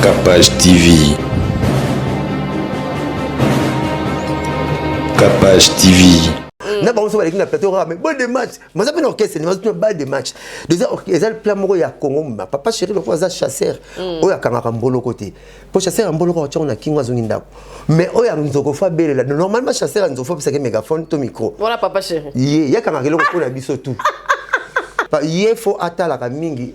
Capage TV. Capage TV. Mm. na bango so baleki na plateau kaka mais bol de match maza mpe na orchestre maza tuna bal de match deja eza plan moko ya congo moma papa chéri lokola aza chasseur mm. oyo akangaka mboloko te mpo chasseur ya mboloko atyako na kingo azongi ndako mais oyo ya nzoko fo abelela normalement chasseur ya nzoko fo apesaki mégaphone to micro ye ye akangaka eloko mpo na biso tout ye fo atalaka mingi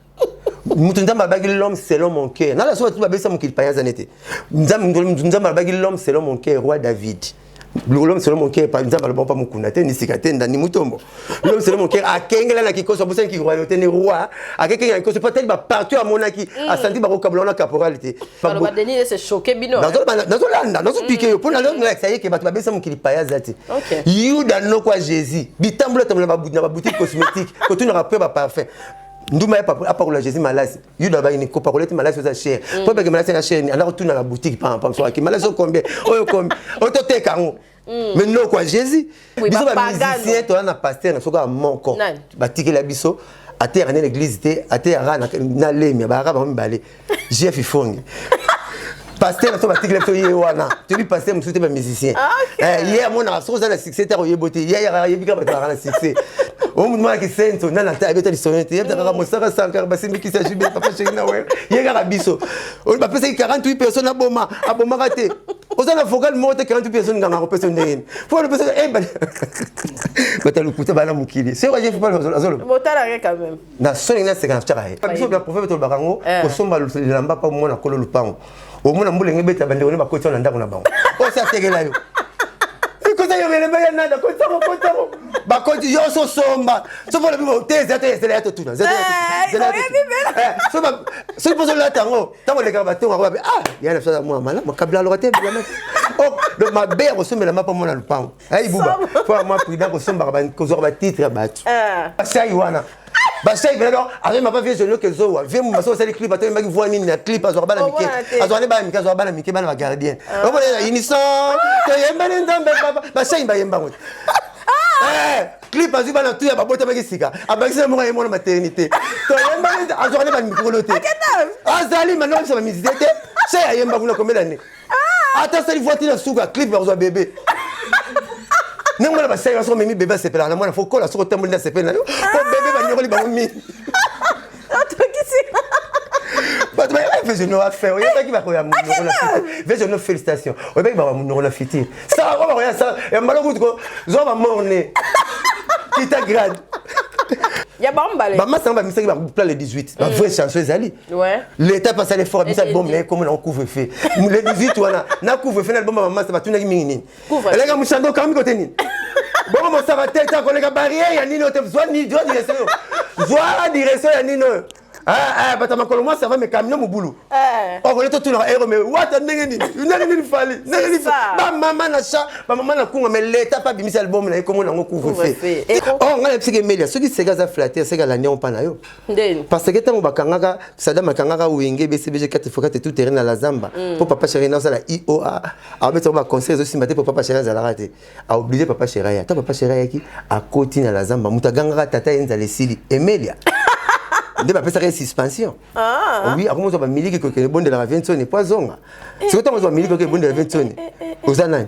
moto nzambe alobaki l'homme selon mon cœur nala soki batu babesa mokili payanza nete nzambe alobaki l'homme selon mon cœur roi david l'homme selon mon cœur nzambe alobaki mpa mokunda te nisika te ndani motombo l'homme selon mon cœur akengela na kikoso abosani kiroyauté ne roi akekengela kikoso mpo atali bapartout amonaki mm. asanti bakokabola wana caporal te nazolanda nazopike yo mpo mm. nalakisa ye ke bato babesa mokili payaza te yuda nokwa jésus bitambola tambola na babutiki cosmétique kotunaka mpe baparfum nduma ya papa apakola jésus malasi yuda bayini kopakola ete malasi oza chere mm. mpo ebeke malasi na chere ni andako tuna na boutique pampaaki malasi okombie oyo okombi oyo toteka yango mm. mais noko ya jésus biso bamusicien toza na paster na soka moko batikela biso ateyaka nde na église te ateyaka na lemia bayaka bango mibale jf ifongi pasteur aso batikela biso ye wana toyebi pasteur mosusu te bamusicien ah, eh, ye amonaka soki oza na succès te akoyebo te ye ayebi kaka bato baka na succès omutumanaki senso nana te abeta lisolo te yebta kaka mosaka sankara basimbikisi ya jube papa sheki na wer ye kaka biso bapesaki 48 personne aboma abomaka te oza na vocal moko te 48 personne nganga akopesa yo ndenge nini fo alopesa eh, bata lokuta bana mokili soki ajefi pale azoloba na soni na seka na chaka ye biso na prophète tolobaka ngo eh. kosomba lamba pa mwana kolo lupango omona mbula nge beta bande wone bakoti na ndako na bango osa tegela yo ikosa yo ngele baya nada kota ko kota ko bakoti yo so somba so pona bibo te zeto ezela ya totuna zeto eh, zela eh, so ba so pozo la tango tango le kaba tonga ba ah ya na fisa mwa mala makabla lokate bila na oh donc mabe ya kosomela mapa mwana lupango Hey, buba faut vraiment prudent kosombaka ba- kozwaka batitre ya bato Eh. basai wana basai penaka amema pa vie zolio kezowa vie muma so osali clip atoyembaki voi nini na clip azwaka bana mike Omwana te. azwaka nde bana mike azwaka bana mike bana bagardien omona na unison toyemba ne nzambe papa basai bayemba ngo te Eh, clip azwi bana tu ya babotamaki sika abakisi na moko ayemona maternité toyemba ne azwaka nde bana mikolo te Akenda. azali manobisa bamizite te se ayemba kuna komela ne ah! ata asali voiti na suka clip bakozwa bebe ndenge mwana basali baso omemi bebe asepelaka na mwana fo kola soki otamboli nde asepeli na yo po ah! bebe banyokoli bango mingi bato bayebaki vesono afin oyebaki bakoya monoko na fiti vesono félicitation oyebaki bakoya monoko na fiti sala ko bakoya sala ya mbala kutu ko zwa bamorne kita grade ya bambale bamasanga bamisaki bapla le 18 bavrai chanson ezali Ouais. L'État passe à l'effort, mais ça bombe là comme on couvre feu. Les 18 wana, na couvre feu na bombe maman ça va tout na mingi nini. Elle a mushando kami kote nini. Bon mon ça va tête ko les barrière ya nini otem zwa ni zwa direction. Zwa direction ya nini. Ah ah bata makolo moi ça va mais camion mubulu. Eh. Oh ko tout na héros mais what ndenge nini. Ndenge nini fali. Ndenge nini. Ba maman na cha, ba maman na kunga mais l'État pas bimisa album na ko mon ngo couvre feu. Oh ngala psike melia, soki sega za flatter, sega la néon pas na yo. parce que ntango bakangaka sadam akangaka wenge bcbg kati fokate tout terrain na la zamba mpo mm. papa chéri na osala ioa aobetisaka baconseil ezosimba te mpo papa chéri azalaka te aoblige papa chéri aya ntango papa chéri ayaki akoti na la zamba moto agangaka tata ye nzala esili emelia nde bapesaka ye suspension ah. oui akomi ozwa bamiliki kokende ebondelaka viensoni mpo azonga eh. sikoy ntango ozwa miliki okende ebondelaka viensoni eh, eh, oza nani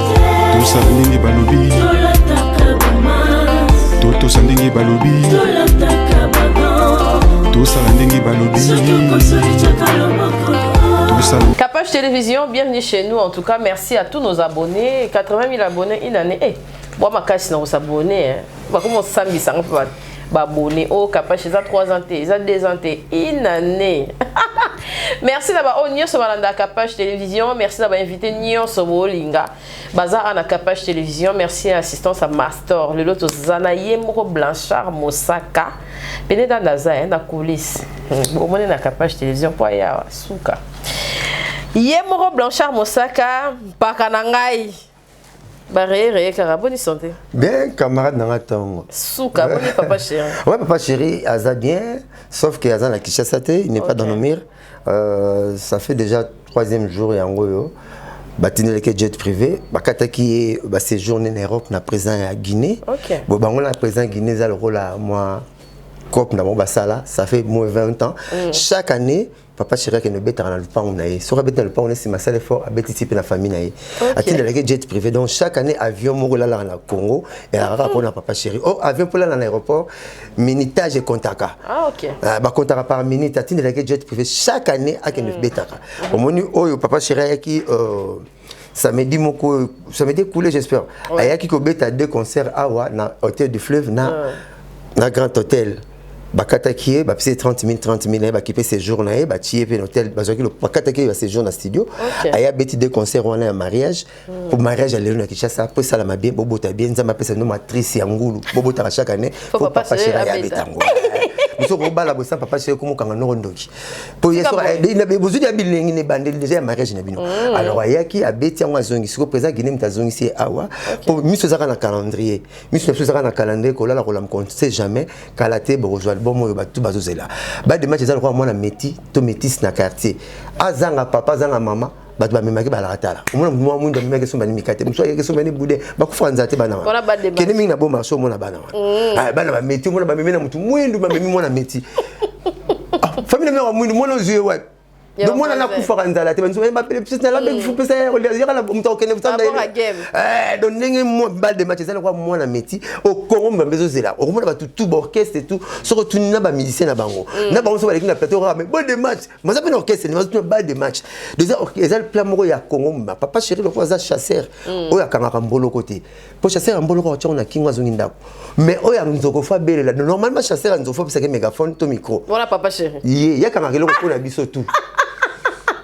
tosa ndenge balobi totosa ndenge balobi tosala ndenge balobi Capage Télévision, bienvenue chez nous en tout cas. Merci à tous nos abonnés. 80 000 abonnés une année. Eh, hey, moi, ma casse, on s'abonner. Hein. Bah, comment on s'amuse, ça, on peut ba bone oh kapash eza 3 ans te eza 2 ans te une année merci na baoyo nyonso balanda capage télévision merci na bainvité nyonso bolinga baza awa na capage télévision merci ya assistance ya mastor lelo toza na ye moko blanchard mosaka pene danda aza ye na coulisse hmm, bomoni na capage télévision mpo ayawa suka ye moko blanchard mosaka mpaka na ngai Ba reye reye kaka boni santé. Bien camarade nanga tongo. Suka boni papa chéri. ouais papa chéri aza bien sauf que aza na Kinshasa te, il n'est okay. pas dans nos murs. Euh, ça fait déjà troisième jour yango yo. batindelaki jet privé bakataki ye baséjour nene europe na président ya guinée okay. bo bango na président guinée eza lokola mwa cope na bango basala ça fait moins 20 ans mm. chaque année papa chéri akende obetaka na lupangu na ye soki abeti na lupangu na ye nsima asala effort abeti ti mpe na famille na ye atindelaki jet privé donc chaque année avion moko elalaka na congo elaka kaka mpona papa chéri o oh, avion mpo elala na aéroport minitage ekontaka ah, ah, bakontaka par minute atindelaki jet privé chaque année akende obetaka hmm. omoni oyo papa chéri ayaki euh, samedi moko samedi ekule j'espère ouais. ayaki kobeta deux concerts awa na hôtel du fleuve na, ouais. na grand hôtel bakataki ye bapesi ye 30 000 30 000 na ye bakipe séjour na ye batie ye mpe na hôtel bazwaki bakataki ye baséjour na studio okay. aye abeti de concert wana ya mariage mpo mm. mariage ya lelo na kinshasa mpo esalama bien bobota bien nzambe apesa bino matrice ya ngulu bobotaka chaque année mpo papa shera ye abeta yango mosu okobala bosa papa shera ekomokanga noko ndoki bozwi ya bilengi na ebandeli deja ya mariage na bino mm. alors ayaki abeti yango azongi sikoyo président guine moto azongisi ye awa mpo miso ezaka na calendrier miso na biso ezaka na calendrier kolala kolama konse jamais kala te bokozwa album oyo batu bazozela bademage eza lokola mwana meti to metise na quartier azanga papa azanga mama bato bamemaki balakatala omona mwa mwindu amemaki esomba ni mikate mosusu ayaki esomba ni bude bakufaka nzala te bana wana kende mingi na boma aso omona bana wana mm. ah, bana bameti omona bamemi na motu mwindu bamemi mwana meti ah, famille na meko mwindu mwana ozwi ye wapi donc mwana nakufaka nzala te banso bapele psisi nalabekufupesa yaka na moto akokende kosanda donc ndenge bal de match eza lokola mwana meti okongo mbambe ezozela okomona bato tu baorchestre tu soki otuni na bamusicien na bango na bango so baleki na plateau kaka mais bal de match baza mpe na orchestre nde bazotuna bal de match deja eza plan moko ya congo mobima papa chéri lokola aza chasseur mm. oyo akangaka mboloko te mpo chasseur ya mboloko atya ngo na kingo azongi ndako mais oyo ya nzoko fo abelela normalement chasseur ya nzoko fo apesaki mégaphone to micro wana papa chéri ye ye akangaka eloko mpo na biso tout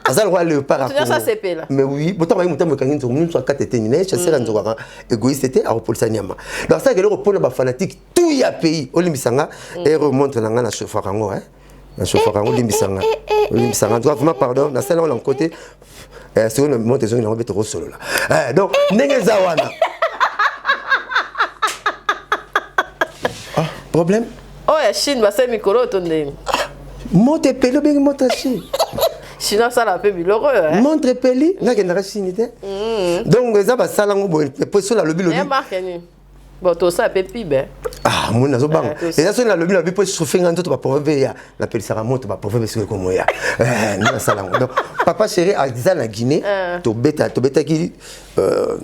aza lokola leopard akongo mais oui botanga bayi motambo ekangi nzoko mosusu akata eteni naye chasseur ya mm. nzoko aka égoïste te akopolisa nyama donc asalaka eloko mpo na bafanatique tout ya pays olimbisa nga mm. ere montre na ngai na chauffaka yango na chauffaka yango limbisa nga limbisa nga nzoka vraiment pardon nasala yango na nkote eh, soki na moto ezongi nango mpe tokosolola eh, donc ndenge eza wana ah, problème oyo oh, ya chine basali mikolo oyo to ndenge ah, moto epeli obengi moto ya chine chinois asala mpe biloko oyo eh? montre epeli nakendaka chine te mm. donc eza basala yango boye mpo sola alobi lobi Bon, tout ça peut pib hein. Ah, moi nazo bang. Et ça c'est la lobby la bipo chauffer ngando to ba pauvre ya. Na pelisa ka moto ba pauvre parce que comme moi. Eh, na sala ngo. Donc papa chéri a dit na Guinée, ah. to beta to beta ki euh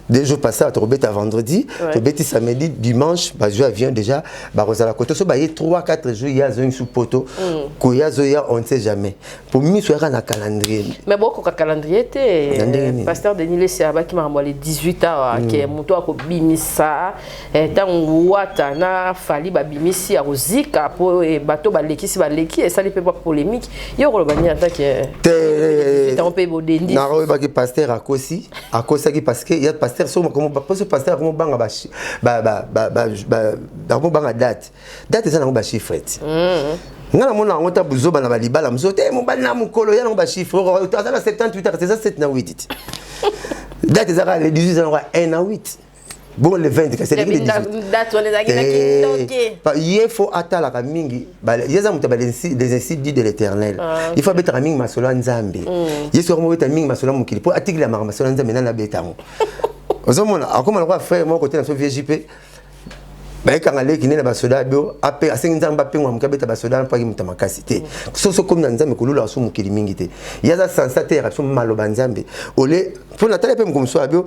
deux jours passés to beta vendredi, to beta samedi, dimanche, ba je vient déjà, ba rozala koto so ba ye 3 4 jours ya zo sous poteau. Mm. Ko ya zo ya on ne sait jamais. po miso yaka na calendrier mais bokoka calendrier te euh, pasteur denis lesi abaki makambo ya le 18 awa mm. ke moto akobimisa ntango euh, wata na fali babimisi akozika mpo euh, bato balekisi baleki esali mpe bapolémique ye okoloba nini ata ke ntango mpe bodendi nako oyebaki pasteur akosi akosaki parce que ya pasteur soki pasteur akomobanga akomobanga date date eza nango ba chiffre ti nga namona yango ta buzoba na balibala mosusu te mobali na mokolo ya nango ba chiffre aza na 78 aka eza 7 na 8 ti date eza kaka le 18 eza nango 1 na 8 bon le 20 kasi eleki le 18 ye fo atalaka mingi ye aza moto ya les insidus de l'éternel ah, il faut abetaka mingi masolo ya nzambe mm. ye soki mobeta mingi masolo ya mokili mpo atikilamaka masolo ya nzambe nani abeta yango ozomona akoma lokola frère moko te na so vieux jp bayekanga leki nde na basoda bio ape asengi nzambe apengwa moke abeta basoda mpaki moto makasi te soso komi na nzambe kolula asu mokili mingi te ye aza sansa te yaka biso maloba nzambe ole mpo natali mpe mokomoso ya bio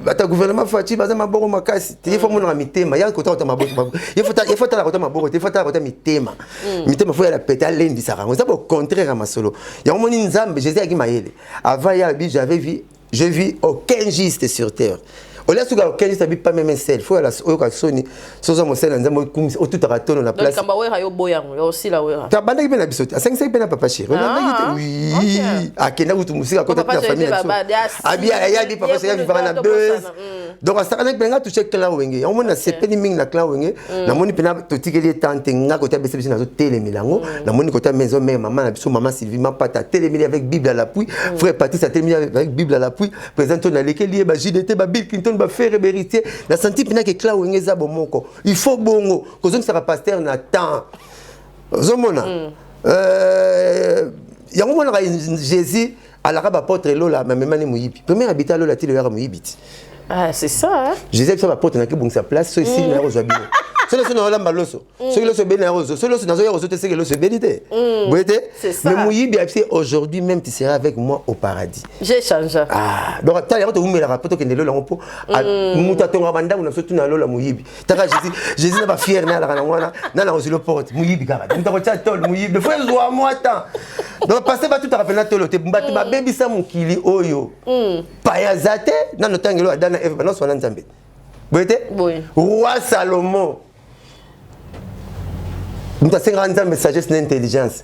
ata gouvernement faci baza maboko makasi te ye fo amonaka mitema ya kota kota maboko ye fo atala kota maboko te fo atala kota mitema mm. mitema fo yala pete alendisaka yango eza bocontraire ya masolo yango moni nzambe jésus ayaki mayele avant ye alobi j'avais vie Je vis aucun juste sur terre. olia suka okendi sabi pa meme sel fo yala oyoka soni soza mosala nzambe okumisa otutaka tono na place kamba wera yo boya yango yo osila wera ta bandaki pe na biso te asangisaki pe na papa chéri ah, olandaki te ah, oui akenda kutu musika kota na famille na biso abi ayabi papa chéri avivaka na buzz donc asakanaki mpe nga touche clan wenge yango moni nasepeli mingi na clan wenge mm. namoni mpena totikeli ye temps te nga kota bese biso nazotelemela yango mm. namoni kota maison mère mama na biso mama sylvie mapata atelemeli avec bible à l'appui mm. frère patrice atelemeli avec bible à l'appui président to nalekeli ye ba jdt ba bill clinton ba ferre beritier na santi mpena ke clan wenge eza bomoko il faut bongo kozongisaka pasteur na temps ozomona euh, yango monaka jésus alaka ba apotre lola ma mema ni muyibi premier habitat lola ti loyaka muyibi ti ah c'est ça hein? Jésus biso ba apotre na ki bungisa place so ici na kozwa bino soki loso naolamba loso mm. soki loso ebeli na yango ozo soki loso nazoya kozo te seke loso ebeli te mm. boye te mais moyibi abisi aujourd'hui même tu seras avec moi au paradis j'ai changé ah donc tala yango towumelaka mpo tokende lola yango mpo mm. moto atongaka bandako na biso tuna lola moyibi taka jésus jésus na bafiere na alaka nango wana na na ozilo porte moyibi kaka moto akotya tole moyibi efo ezwa mwa temps donc passe batutaka mpe na tolo te bato mm. babebisa mokili oyo mm. paya aza te nano ntangelo ada na eve banonso wana nzambe boye te roi salomo moto asengaka nzambe sagesse na intelligence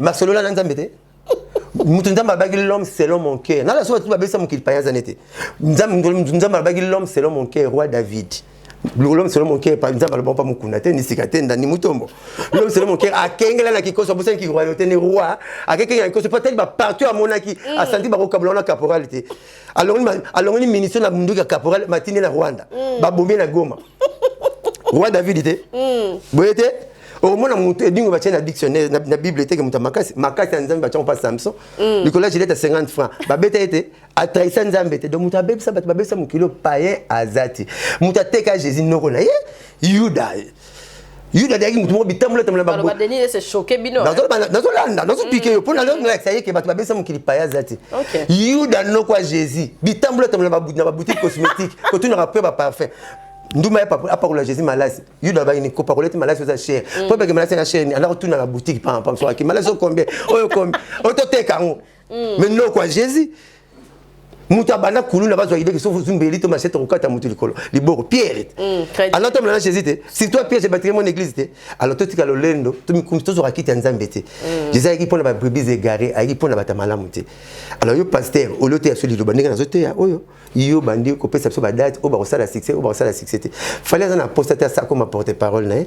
masolola na nzambe te moto nzambe alobaki l'homme selon mon cœur nala soki bato babesa mokili paya aza nete nzambe alobaki l'homme selon mon cœur roi david l'homme selon mon cœur nzambe aloba mpa mokunda te nisika te ndani motombo l'homme selon mon cœur akengela na kikoso abosani ki royauté ne roi akekengela na kikoso mpo atali bapartout amonaki mm. asanti bakokabula wana caporal te alongoli ministre na munduki ya caporal matindi na rwanda mm. babomi na goma roi david te hmm. boye te omona moto edingo batye na dictionnaire na bible eteke moto ya makasi makasi ya nzambe batyango mpa samson hmm. likolo ya gilete ya 50 franc babeta ye te atrahisa nzambe te donc moto abebisa bato babebisa mokili oyo payen aza te moto ateka jésus noko na ye yuda yuda azalaki moto moko bitambolatambola nazolanda nazopike yo mpo nalakisa ye ke bato babesa mokili paya aza te yuda noko ya jésus bitambolatambola na baboutique cosmétique kotunaka mpe baparfum nduma apakola jésus malasi yuda bayini kopakola ete malasi oza chere mpo ebeke malasi na chere anda kotuna na boutique pampa soki malasi okombe oyo kombi oyo toteka yango mm. mais non quoi Jésus moto abanda kuluna bazwa idee ke soki ozumbeli to masete okokata moto likolo liboko pierre te mm, anatombola na jésus te surtout pierre ebatike mon église te alors totika lolendo tomikumisi tozwaka kiti ya nzambe te mm. jésus ayaki mpo na babrebis égaré ayaki mpo na bato ya malamu te alors yo pasteur olio te ya so liloba ndenge nazoteya oyo yo bandi kopesa biso badate oyo bakosala succès oyo bakosala succès te fali aza na posta te asakoma porte parole na ye eh?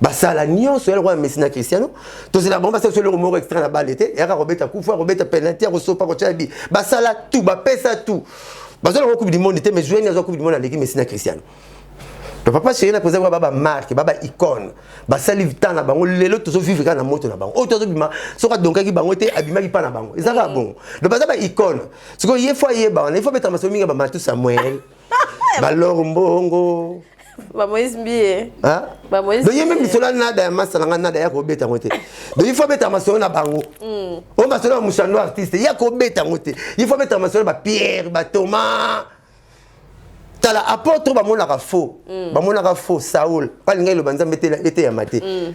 basala nyonso ya lokola messi na cristiano tozela bango basala eloko moko extra na bale te yaka kobeta kufu akobeta penalti akosopa kotyela bi basala tu bapesa tu bazwa yango coupe du monde te mais joueur azwa coupe du monde aleki messi na cristiano to papa chéri na président ba ba marque ba ba icône ba sali vita na bango lelo tozo vivre ka na moto na bango o tozo bima soka donkaki bango te abimaki pa na bango ezaka bon do baza ba icône siko ye fois ye ba wana il faut beta masomi nga ba matu samuel ba lor mbongo ba moise mbie hein ba moise donc yembe misola nada ya masala nga nada ya ko beta ngote donc il faut beta masolo na bango mm. o masolo ya mushando artiste ya ko beta ngote il faut beta masolo ba pierre ba thomas tala apôtre ba monaka faux mm. ba monaka faux saoul ba linga iloba nzambe te eteyama te mm.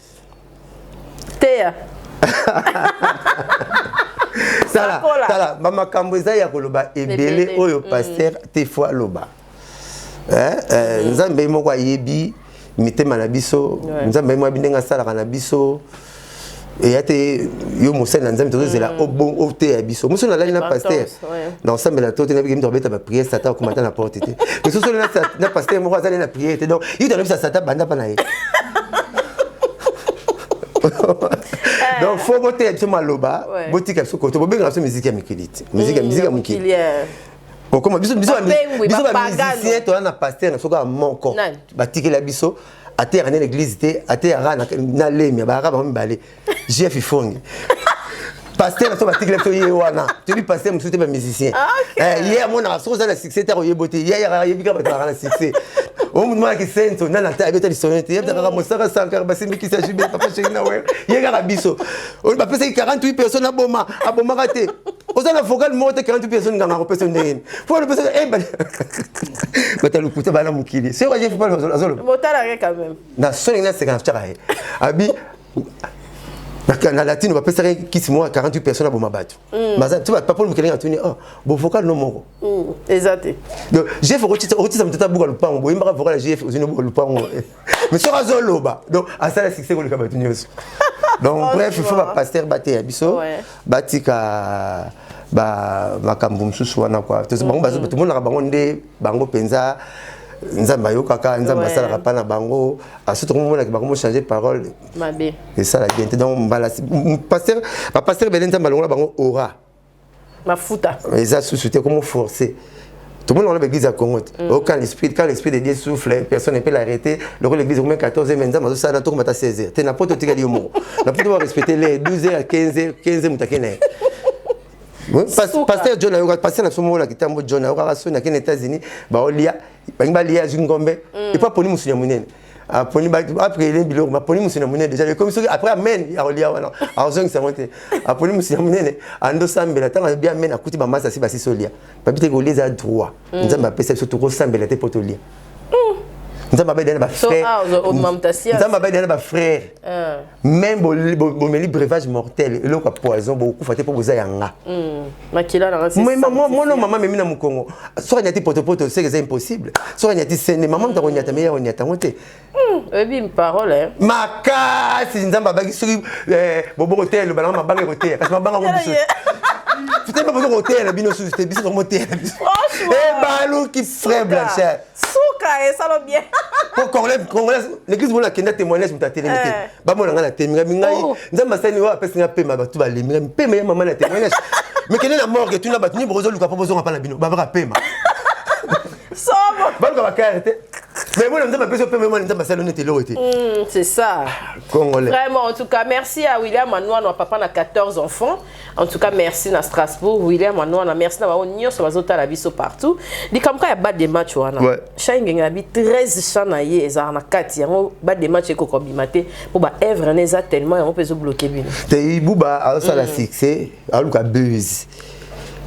teya tala tala bamakambo eza ya koloba ebele oyo mm. paster te fo aloba eh, eh, mm. nzambe moko ayebi mitema na biso nzambe moko ayebi ndenge asalaka na biso eya te yo mosali na nzambe tozozela mm. oteya biso mosu nalali na paster na kosambela to te nayebi kemita kobeta bapriere satan akoma ata na porte te lisusu ole na pastere moko azali na priere te donc yuto anobisa satan banda mpa na ye Eh. donc fo boteya biso maloba botika biso koto bobengaka biso miziki ya mikili te miziki ya mm, mokili eh. okoma biso bamisicien toza na paster na biso kaka moko batikela biso ateyaka nde na église te ateyaka na lemia bayaka bango mibale jf ifongi pasteur aso batikela biso ye wana toyebi pasteur mosusu te bamusicien ah, eh, ye amonaka soki oza na succès te akoyebo te ye ayebi kaka bato baka na succès omutumanaki senso nana ata abeta lisolo te yebta kaka mosaka sankara basimbikisa jube papa sheki na wer ye kaka biso bapesaki 48 personne aboma abomaka te oza na vocal moko te 48 personne nganga akopesa yo ndenge nini fo alopesa eh, bata lokuta bana mokili soki ajefi pale azoloba na soni ngai aseka na tyaka ye abi na latine bapesaka kisi moko ya 48 personne aboma bato mm. baza ti bapapoli mokelenge atuni oh, bovocal no moko mm, eza te donc jef okotisa moto ata buka lopango boyembaka vocal ya jef ozini obuka lopango eh. mais soki azoloba donc asala succès koleka bato nyonso donc bref il faut bapaster bateya biso batika makambo mosusu wana kua bango mm-hmm. tomonaka bango nde bango mpenza nzambe ayokaka nzambe asalaka mpa na bango asutu komomonaki bango mochange parole esala bien te donc mbala paster bapaster ebele nzambe alongola bango ora mafuta eza susu te komoforce tout le monde dans l'église à Congo. Mm. Oh, quand l'esprit, quand l'esprit de Dieu souffle, personne ne peut l'arrêter. Le rôle de l'église, au moins 14 et 20 ans, mais ça, là, tout le monde à 16 heures. T'es n'importe quel humour. N'a pas de respecter les 12 heures, 15 heures, 15 heures, paster john ayoka paster na biso moko na kitambo john ayokaka soni akende états-unis baolia balingi balia azwi ngombe mm. epo aponi mosuni ya monene aponi apre ele biloko aponi mosuni ya monene deja ekomi soki après amen akolia wana akozongisa yango te aponi mosuni ya monene andosambela ntango abi amen akuti bamasi asi basisi olia babi te kolia eza droit mm. nzambe apesa biso tokosambela te mpo tolia mm. nzambe abedana bafrèrenzambe abedana bafrère ah. même bomeli brevage mortel eloko ya poison bokokufa te mpo boza ya nga mm. mono mama memi na mokongo soki anyati potopoto seke eza impossible soki anyati sende mama moto akonyata meye akonyata yango te oyebi hmm, parole eh? makasi nzambe abaki soki eh, bobo koteya eloba nanga mabanga ekoteya kasi mabanga ngo biso fitema bozo koteya na bino susu te biso tokomoteya na biso ebaluki eh, frais blanchard suka esalo bien po congolais l'église mona akenda témoignage moto atelemi te bamona ngai na temi ngai mingai oh. nzambe asali oyo apesi ngai pema bato balembi ngai mpema ya mama na temi ngai mekende na morgue tuna bato nyimbo bozoluka mpo bozonga mpa na bino babaka pema baluka bakare te mais moi nzambe apesi opema moi nzambe asali nete eloko te c'est ça congolais vraiment en tout cas merci à william anwanwa papa na 14 enfants En tout cas, merci na Strasbourg, William Anouana, merci na bao nyoso bazotala biso partout. Likamka ya bas de match wana. Ouais. Shine na bi 13 chants na ye ezar na kati yango bas de match eko kobima te po ba œuvre na eza tellement yango pezo bloquer bino. Te ibuba asala mm. succès, aluka buzz.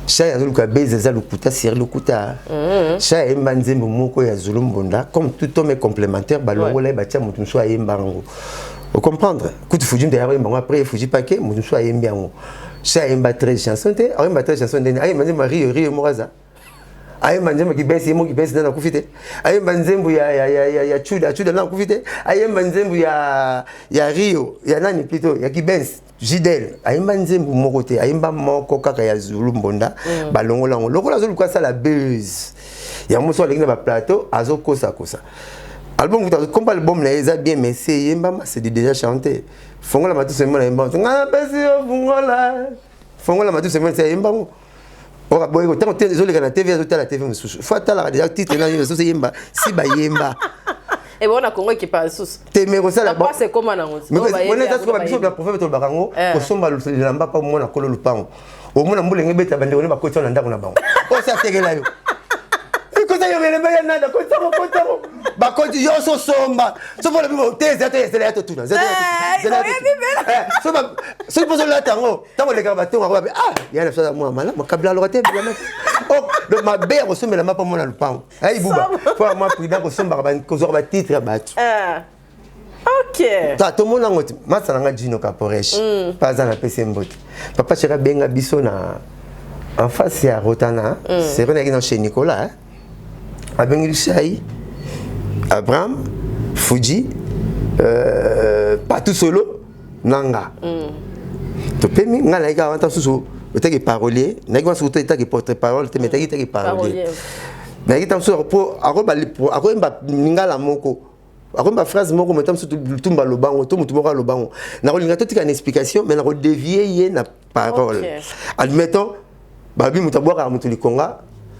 sha ya zoluka beza eza lokuta seri lokuta mhm. sha ayemba nzembo moko ya zulu mbonda comme tout homme complémentaire balongola ye batya moto mosusu ayemba yango o comprendre kutu fuji nde ayaka yemba yango après fuji pake moto mosusu ayembi yango si ayemba 13 chanson te ayemba 13 chanson ndeni ayemba nzembo ya rio rio moko aza ayemba nzembo kibesi ye moko kibesi nde nakufi te ayemba nzembo ya, ya, ya, ya, ya chuda chuda nde nakufi te ayemba nzembo ya, ya rio ya nani plito ya kibesi Jidel ayemba nzembo moko te ayemba moko kaka ya Zulu Mbonda mm. balongola yango lokola azoluka asala buzz yango mosusu aleki na baplateau azokosakosa album kuta komba album na ye eza bien mais se eyembama c'est du déjà chanté fongola matusu emona yemba nga napesi yo fungola fongola matusu emona se ayemba yango oka boye ko tango ezo leka na TV azo tala TV mususu faut atala déjà titre na yo so yemba si ba yemba et bon na Congo ekipa susu te me ko sala ba c'est comment na ngozi mais on est tous comme biso ba prophète to bakango eh. ko somba lu lamba pa mona kolo lupango o mona mbule ngi beta bande ko ne ba ko tsona ndako na bango o sa tegela yo ko sa yo mele ba yana da ko tsamo ko tsamo bakoti yo so somba so mpo olobi te zela to ezela ya totuna zela ya totuna eh, soki mpo ozolata yango ntango elekaka batonga yango babe ah ya na biso aza mwana malamu kabila aloka te bilama oh, donc mabe ya kosombela mapa mwana lopango ya ibuba mpo ya mwa prida kosombaka kozwaka batitre ya bato eh, ta tomona yango te masa na nga jino caporesh mm. mpe aza na pese mbote papa sheri abenga biso na en face ya rotana mm. seri nayaki na chez nicolas abengi biso ai abraham fuji euh, patu solo na nga mm. topemi ngai nayaki awa ntango susu otaki parolier nayaki wana soki etaki porte parole te metaki etaki parolier nayaki ntango susu po akoyemba lingala moko akoyemba phrase moko metamo susu lutumba lobango to motu moko alobango nakolinga totika na explication mai nakodevie ye na parole okay. admettons balobi moto abwakaka moto likonga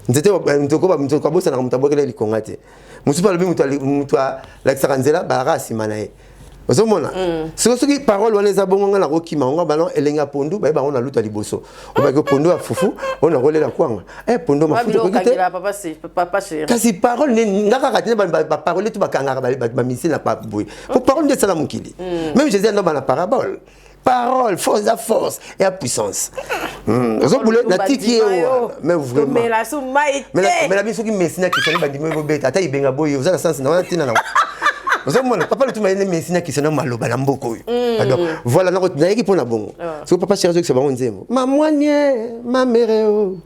nzete moto kabosanaka moto abwakela ye likonga te mosusu mpe alobi moto alakisaka nzela balaka nsima na ye ozomona mm. soki soki parole wana eza bongo ngai nakokima yango bana elenge ya pondu baye bango naluta liboso obaki pondu ya fufu oyo nakolela kwanga e eh, pondu mafuta okoki te kasi parole nga kaka te baparole to bakangaka bamisili na boye po parole nde esala mokili mm. meme jésus andobana parabole parole force eza force ya puissance hmm, ozobule natiki ye wana mais vraimentmela biso soki messi na kisani bandimi bobeta ata ibenga boye oza na sansi na wana ntina nango ozomona papa lotuma yene messi na kisani maloba na mboka oyo hmm. pardon voilà nayeki mpo na bongo ah. soki papa chéri azokisa bango nzembo mamwanie mamereo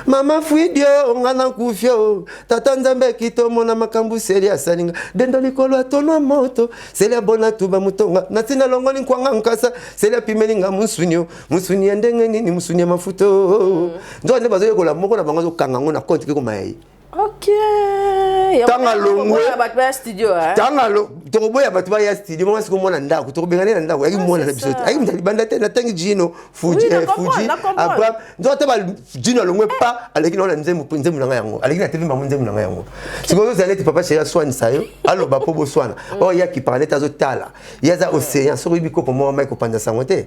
mama fuidio nga na nkufio tata nzambe akito mona makambo seli asalinga dendo likolo atonwa moto seli abona tuba motonga na ntina longoli nkwanga nkasa seli apimeli nga mosunio mosuni ya ndenge nini mosuni ya mafuta mm. nzoka nde bazoyekola moko na bango azokanga yango na konti kikoma ya ye tanga longwe tanga lo tokoboya bato baya studio mama siko mwana ndako tokobengane na ndako yaki mwana na biso te ayaki mzali banda te natangi jino fuji eh, fuji abraham nzo ata ba jino alongwe pa aleki naona nzembo nzembo na ngai yango aleki na telema nzembo na ngai yango sikoyo ozala neti papa sheri aswanisa yo aloba mpo boswana oyo oh, yaki parane te azotala ye aza océan soki oyebi kopo mwa mai kopanza sango te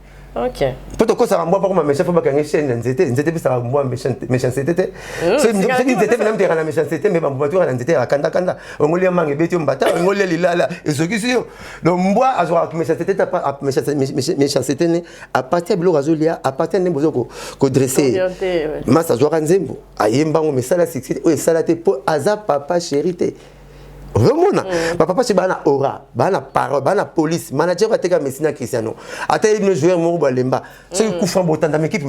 Okay. mpo tokosaka mbwa mpo akoma méchant mpo bakangi chaîne ya nzete nzete epesaka mbwa méchancete te hmm, soki nzete mpe namteka na méchancete mpe bambuma toka na nzete ya kandakanda ongoli ya manga ebeti yo mbata ongoli ya lilala ezokisi yo donc mbwa azwaka méchancete te méchancete ne apartir ya biloko azolia apartir ya ndembo ozo kodresse masa azwaka nzembo ayemba yango mesala succès oyo esala te mpo aza papa chéri te ozomona mm. bapapa ce baa na aura baa na parole baa na police manager oyo ateka messi na cristiano ata ye bino joueur moko balemba soki mm. kufa botanda mekipe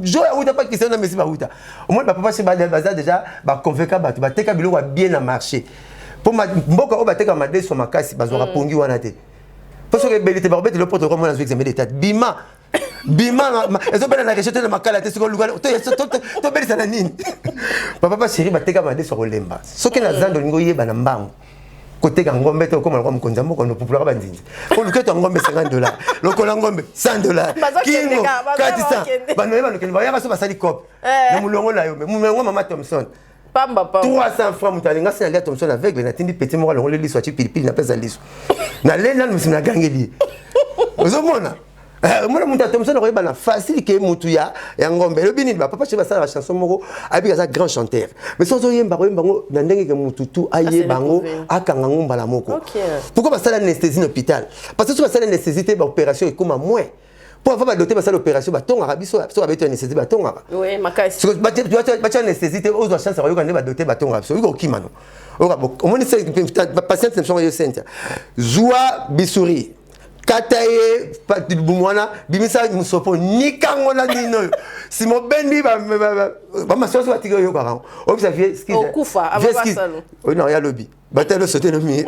joueur awuta mpa cristiano na messi bawuta omoni bapapa ce baza déjà baconvainka bato bateka biloko ya bien na marché mpo mboka oyo bateka madeso makasi bazwaka mm. pongi wana te mpo soki ebeli te bakobetela poto komona azwi examen d'etat bima bima ezobela na rejeté na makala te sikoyo luka tobelisa na nini papa pa chéri bateka madesu ya kolemba soki na zando olingi oyeba na mbangu koteka ngombe te okoma lokwa mokonzi ya mboka nopupulaka banzinzi po luketo ya ngombe 50 dollar lokola ngombe 100 dollar kingo katisa banoye banokende bayaka so basali cope eh. na molongo na yo me molongo mama thomson pamba pamba 300 francs moto alinga se nalia tomson aveugle natindi peti moko alongoli liso atye pilipili napesa liso nalie nanu misi nagangeli ye ozomona eh, omona moto ya tomson akoyeba na facile ke motu ya ya ngombe elobi nini bapapa che basala bachanson moko ayebika aza grand chanteur mais soki ozoyemba koyemba yango na ndenge ke motu tu ayeba yango akanga yango mbala moko pourkoi basala anesthésie na hôpital parce que soki basala anesthésie te baopération ekoma moins mpo avant badote basala opération batongaka biso soki abeti anesthésie batongaka batya anesthésie te ozwa chance akoyoka nde badote batongaka biso oyoka okima no omoni patiente na biso yango yo sentia zwa bisuri kata ye libumu wana bimisa mosopo nikango na nino oyo nsima obendi bamasusu batiki oyokaka yango oyebisa vie skizoya lobi bato alo sote no mire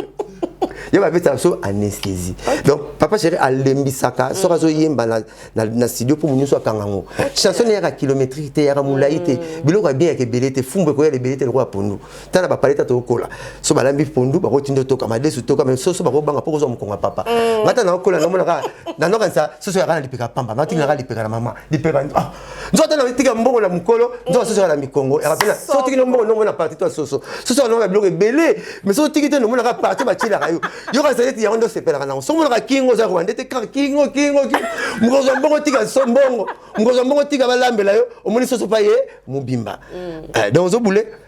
ye babetaka biso anesthésie donc papa chéri alembisaka mm. soki azoyemba na, na, na studio mpo monyoso akanga yango chanson eyaka kilométrike te eyaka molai te mm. biloko ya bien yaka ebele te fumbu ekoyala ebele te lokola pondu ta na bapaleta tokokola so balambi pondu bakoki tindo toka madesu toka me soso bakobanga mpo kozwa mokongo ya papa mm. ngata nakokola namonaka nanokanisa soso yaka na lipeka pamba natinga naka lipeka na mama lipeka ah, nzoto na tika mbongo na mukolo nzoto soso na mikongo yakapena so tiki no mbongo nombo na parti to soso soso na biloko ebele mais so tiki te nombo na ka parti ba tila kayo yo ka sete yango ndo sepela kana so mona ka kingo za rwanda te ka kingo kingo kingo mukolo za mbongo tika so mbongo mukolo za mbongo tika balambela yo omoni soso pa ye mubimba mm. eh, donc zo bule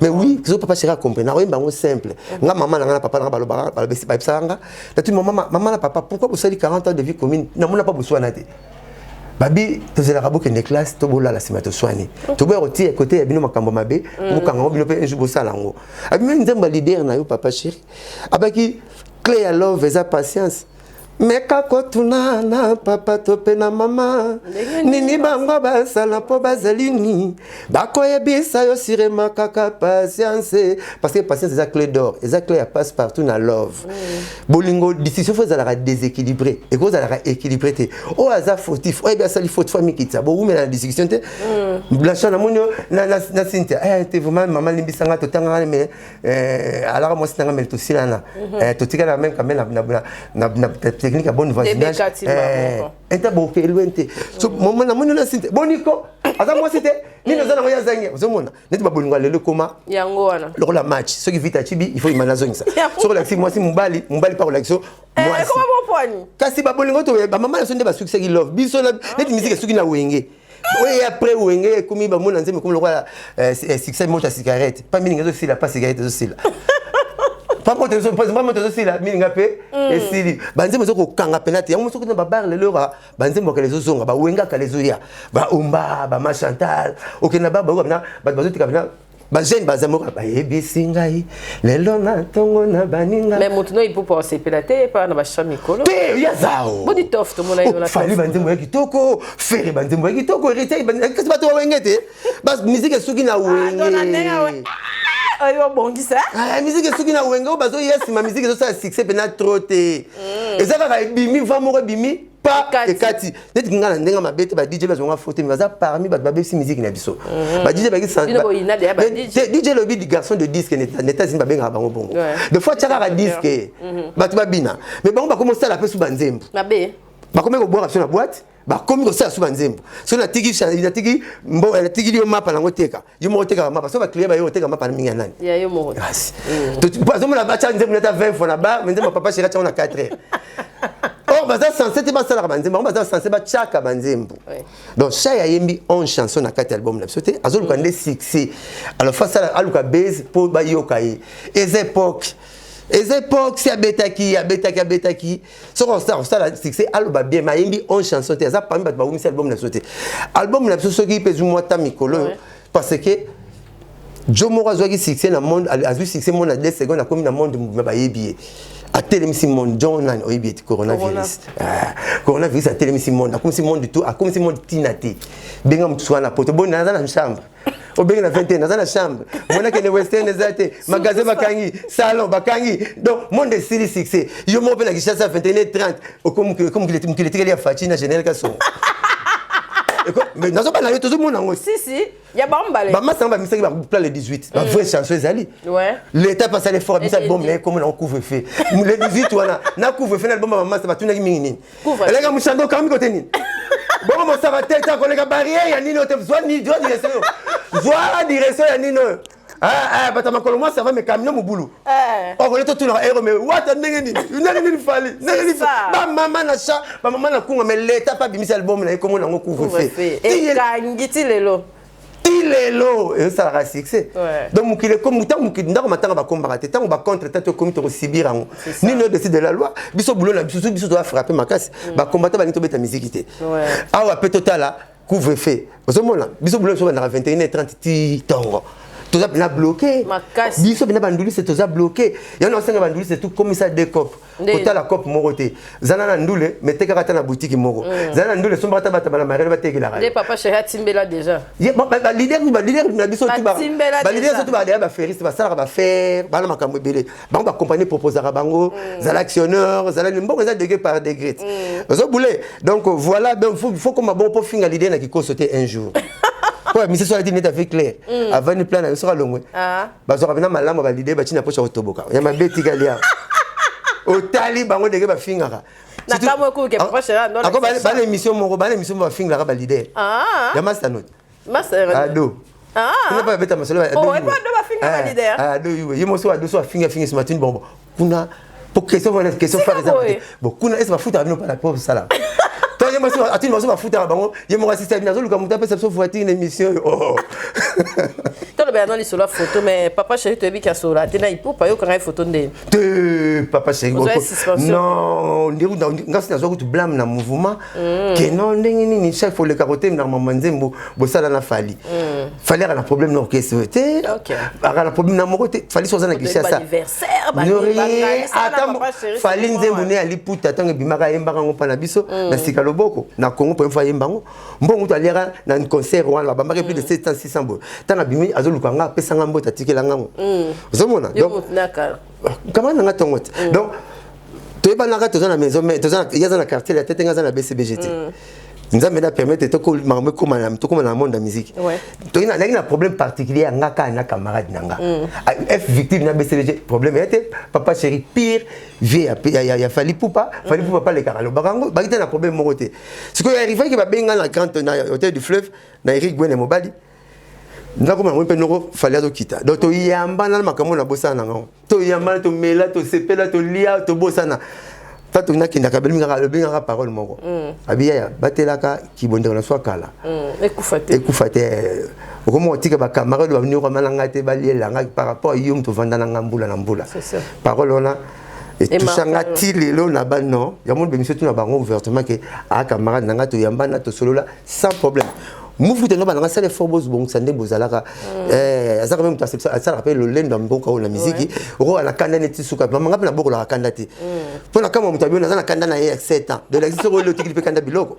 mais oui zo papa chéri acomprene nakoyemba yango simple nga mama na nga na papa na nga balobaka balobesi bayebisaka nga natuni mama mama na papa pourquoi bosali 40 ans de vie commune namona pa boswana te babi tozelaka bokende classe to bolala nsima toswani toboya kotia kote ya bino makambo mabe mm. bokanga yango bino mpe un jour bosala yango abimaki nzambe ya lider na yo papa chéri abaki cle ya love eza patience meka kotuna na papa to mpe na mama nini bango basala mpo bazali nini bakoyebisa yo sirema kaka patience parce que patience eza clé d'or eza clé ya passe partout na love bolingo discussion fo ezalaka déséquilibré ekozalaka équilibré te oyo aza fautif oyebi asali faute fo amikitisa bowumela na discussion te mm. blanchard namoni yo na cynthia eh, te vraiment mama limbisanga totangaka mais Eh, alaka mwasi nanga mele tosilana mhm. eh, totikala na meme kame na technique ya bonne voisinage eh, ete bokelwe te mhm. namoni olasi te boniko aza mwasi te nini oza nango ye azangi ozomona neti babolingo ya lelo ekoma yango wana lokola match soki vita acibi il faut imana azongisa soki olakisi mwasi mobali mobali mpa kolakisa eh, mwasi kasi babolingo to bamama na so nde basukisaki love biso neti miziki esuki na wenge oye après wenge ekomi bamona nzembo ekomi lokola eh, eh, succès moto ya cigarette pa mininga ezosila pa cigarette ezosila pamoto ezosila mininga mpe mm. esili banzembo ezo kokanga mpena te yango soki na babar lelo yoka banzembo ya kala ezozonga bawengaka lezoya baomba bamachantal okenda ba bayoka mpena bato bazoteka mpena bajeune baza moko bayebisi ngai lelo na ntongo na baninga mais moto no ipupa osepela te epa na bashwa mikolo te ya zao bodi tof tomona yo na fali banzembo ya kitoko fere banzembo ya kitoko heritier kasi bato ba wenge te miziki esuki na ah, wenge oyo obongisa ah, miziki esuki na wenge oyo bazoya nsima miziki ezosala succès mpena trop te mm. eza kaka ebimi va moko ebimi pas ekati neti kinga na ndenge mabe te ba DJ bazo nga faute mais baza parmi ba babesi musique na biso mhm. ba DJ ba kisa DJ lobi du garçon de disque neta neta zimba benga bango bongo de fois tchaka ka disque mhm. batu babina mais bango ba commencer la pesu banzembo mabe ba komi ko boire sur la boîte bakomi kosala so banzembo soki natiki natiki mbo natikili yo mapa nango teka yo moko otekaka mapa so baclient bayo oteka mapa na mingi ya nani ya yo moko kasi mm. po azomona batya nzembo neta 20 fois na ba me nzembo papa sheri atyango na 4 heures or baza sense te basalaka banzembo yango baza sense batyaka banzembo donc chai ayembi 11 chanson na kati ya album na biso te azoluka mm. nde succès alors fa asala aluka base mpo bayoka ye eza époque eza époque si abetaki abetaki abetaki soki osala kosala succès aloba bien mayembi on chanson te aza parmi bato bawumisi album na biso te album na biso soki mpe ezwi mwa ta mikolo oyo parce que jo moko azwaki succès na monde azwi succès monde na 2 seconde akomi na monde mobima bayebi ye atelemisi monde john nani oyebi ete coronavirus ah, coronavirus atelemisi monde akomisi monde tout akomisi monde ntina te benga mosusu wana poto boni naza na chambre obenge na 21 naza na chambre mwana kende western eza te magasin bakangi salon bakangi donc monde esili succès yo moko mpe na kishasa 21 30 okomokili etikeli ya faci na general kasongo nazobana yo tozomona yango bamasanga bamisaki bapla le 18 bavrai chanson ezali leta mpe asali effort abisa album na ye komo nango couvre feu le 18 wana na couvre feu na album ya bamasa batunaki mingi nini eleka mushando okambi kote nini bongo mosaka te ta koleka barrière ya nini oyo te zwa ni zwa direction yo zwa direction ya nini oyo Ah, ah, bata makolo mwasi ava mekamino mobulu eh. okole totunaka ero me wata ndenge nini ndenge nini fali ndenge nini bamama na cha bamama na kunga me leta mpe abimisi album na ye komona yango couvre fe ekangi ti lelo ti lelo ezosalaka succès donc mokili ekomi ntango mokili ndako matanga bakombaka te ntango bacontre tatu ekomi tokosibir yango nini odesi de la loi biso bulo na biso soki biso toza frappe makasi mm. bakombata balingi tobeta miziki te awa mpe totala couvre feu ozomona biso bulo na biso bandaka 21 30 ti ntongo toza pena bloke biso pena bandulise toza bloke yango na osenga bandulise tokomisa decope kotala cope moko te zala na ndule me tekaka ata na butiki moko mm. zala na ndule sombaka ata bato bana marele batekelaka balidere na biso balidere soki balea baferiste basalaka bafere bana makambo ebele bango bacompagnie proposaka bango mm. zala actionneur zala mbongo eza degre par degre mm. ozo boule donc voilà faut koma bongo mpo finga lidere na kikoso te un jour mpo ya misiso alati neti avec claire avandi plan na yo soki alongwe ah. bazwaka mpena malamu ya balide batii na mposa kotoboka ya mabe etikali ya otali bango ndenge bafingaka bana émission moko bana émission moko bafingaka balide ah. ya mastanot ado ah. kuna mpe babeta masolo ado ye mosi ado so afingi afingi simatini bongo kuna po question wana question fare eza te bon kuna ese bafutaka bino pala po osala to ye mwasi atini baso bafutaka bango ye moko asisi abino azoluka moto apesa biso voiture na émission oyo oh. tolobela no lisolo ya foto mais papa chéri toyebi ki asola te na ipupa ayokanga ye foto nde te papa chéri non ndengasi nazwa kutu blame na mouvement Mm. ke no ndenge nini chef oleka kotemela mama nzembo bosala na fali mm. fali aka na problème na orchestre oyo te aka na problème na moko te fali soki oza na kinshasa fali nzembo ne aliputa ntango ebimaka ayembaka yango mpa na biso mm. na sika loboko na congo mpo mfo ayemba yango mbongo to aliaka na concert wana babambaki plus de 700 600 boye ntango abimi azoluka nga apesa nga mbote atikela ngango ozomona kamata na nga tongo te mm. donc toyebanaka toza na maison mais toza ya za na quartier ya tete nga za na BCBG te mm. nzambe na permettre toko makambo ekoma na tokoma na monde ya musique toki na ndaki na problème particulier ya nga kaka na camarade na nga mm. ah, f victime na BCBG problème ya te papa chéri pire vie ya, ya, ya, ya Fally Poupa mm. Fally Poupa pale kaka lobaka yango bakita na problème moko te sikoyo arrivaki babenga na grand na hôtel du fleuve na Eric Gwene mobali mm. nakoma yango mpe noko fali azokita donc toyambana na makambo na bosana na ngango toyambana tomela tosepela tolia tobosana ta toyina akendaka abengaka parole moko mm. abiyaya batelaka kibondeko na swa kala mm. ekufa te eh, okomoko tika bacamarade baninyokwama na ngai te balielanga par rapport yo moto ovanda na ngai mbula na mbula parole wana etusa nga ti lelo na ba non yango bemisio tuna bango ouvertement ke a camarade na nga toyambana tosolola sans problème mufu te nobana nga sala effort bozobongisa nde bozalaka mm. eh, azaka mpe moto asalaka mpe lolendo ya mboka oyo na miziki okoka na kanda neti suka mama nga mpe nabokolaka kanda te mm. mpo na kama moto abiona aza na kanda na ye ya 7 ans donc lakisi soko elotiki mpe kanda biloko